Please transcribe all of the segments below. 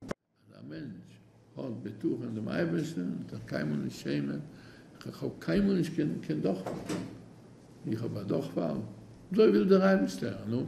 אז א מענטש האט בטחון אין דעם אייבערשטן וועט ער קיינמאל נישט שעמען, איך האב קיינמאל נישט געהאט קיין דורכפאל, איך האב א דורכפאל, אזוי וויל דער אייבערשטער, נו,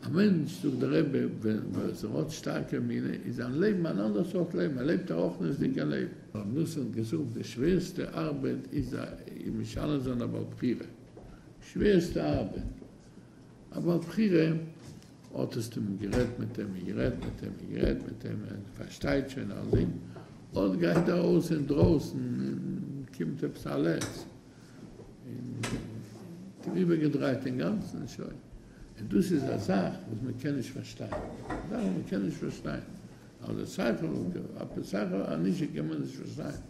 א מענטש, זאגט דער רבי, וואס ער האט שטארקע אמונה, איז זיין לעבן אן אנדער סארט לעבן, ער לעבט א רחניות'דיגע לעבן. רבי ניסן האט געזאגט, די שווערסטע ארבעט איז משנה זיין א בעל בחירה, שווערסטע ארבעט, א בעל בחירה האט עס טועם גערעדט מיט אים און גערעדט מיט אים און גערעדט מיט אים און ער פארשטייט שוין אז אים אט גייט ער אויס אין דרויסן און קומט עפעס א לץ און האט אים איבער געדרייט אינגאנצן שוין און דאס איז א זאך וואס מען קען נישט פארשטיין זאכן וואס מען קען נישט פארשטיין אויף די שכל אויף די שכל הישר קען מען נישט פארשטיין.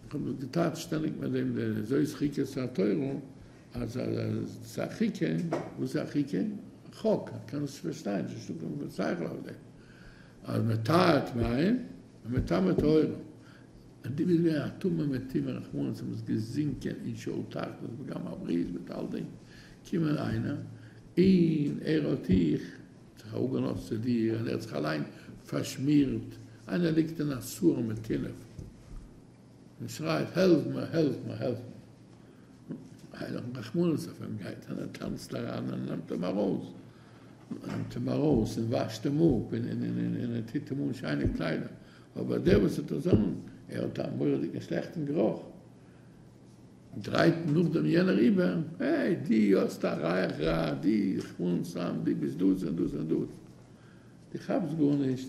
איך האב דאס געטארט שטעלן ביי דעם זאת חוקת התורה אז ס'איז א חוקה, וואס איז א חוקה? א חוק, איך קען עס פארשטיין, ס'איז נישטא קיין שכל אויף דעם, אז מען טהר'ט מים און מען טמא טהרה, און דו ביסט געווען א טמא מטמאי רחמנות און ביסט געזינקען אין שאול תחתית פגם הברית מיט אלדינג, קומט איינער און ער האט דיך. זיך אראפגענארט צו דיר און ער האט זיך אליין פארשמירט, איינער ליגט אין א סארעם מיט טינף און שרייט העלף מיר העלף מיר העלף מיר, איינער האט רחמנות אויף אים, גייט איינער טאנצט אריין און נעמט אים ארויס, נעמט אים ארויס און וואשט אים אפ און ער טוט אים אן שיינע קליידער, אבער דער וואס האט עס אן ער האט א מורא'דיגע שלעכטן גערוך. דרייט נאכדעם יענער איבער, העי, די האסט א רייך ראד, די חנ סמ, די ביסט דאס און דאס און דאס, די כאפסט גארנישט,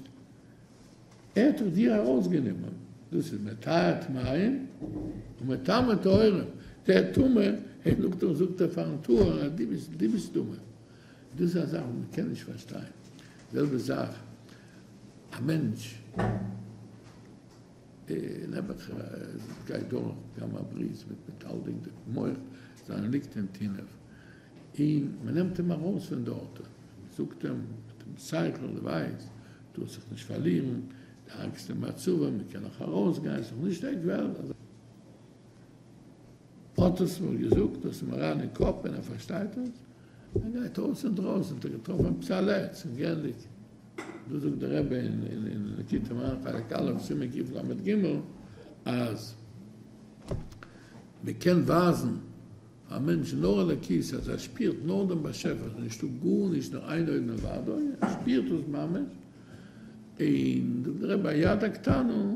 ער האט דאך דיר ארויסגענומען, דאס איז מטהר טמאים און מטמא טהורים, דער טמא, העי, נאכדעם זאגט ער פארן טהור אז די ביסט טמא, דאס איז א זאך וואס מען קען נישט פארשטיין, די זעלבע זאך א מענטש. נעבעך גייט דורך גם א ברית מיט מטלטלין די מח, זיין ליגט אין טינעוו, אין מען נעמט אים ארויס פון דארטען, מען זאגט אים מיט דעם שכל, די ווייסט, טוה זיך נישט פארלירען, די ארגסטע מצבה, מען קען נאך ארויס גיין, ס'איז נאך נישט עק וועלט, אזא. האט עס מיר געזאגט האט אים אריין אין קאפ און ער פארשטייט עס, ער גייט אויס אין דרויסן האט ער געטראפן א פצע לעץ און געענדיגט, דא זאגט דער רבי אין ליקוטי מוהר ן חלק א' סימן קיף למד ג אז מען קען ווייזן פאר א מענטש נאר אלוקית אז ער שפירט נאר דעם באשעפער עס איז נישטא גארנישט נאר איין אויבן און וואדוי ער שפירט עס ממש, און זאגט דער רבי א יד הקטנה,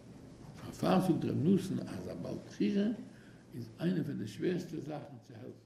פארפאר זאגט ר' נתן אז א בעל בחירה איז איינע פון די שווערסטע זאכן צו העלפן.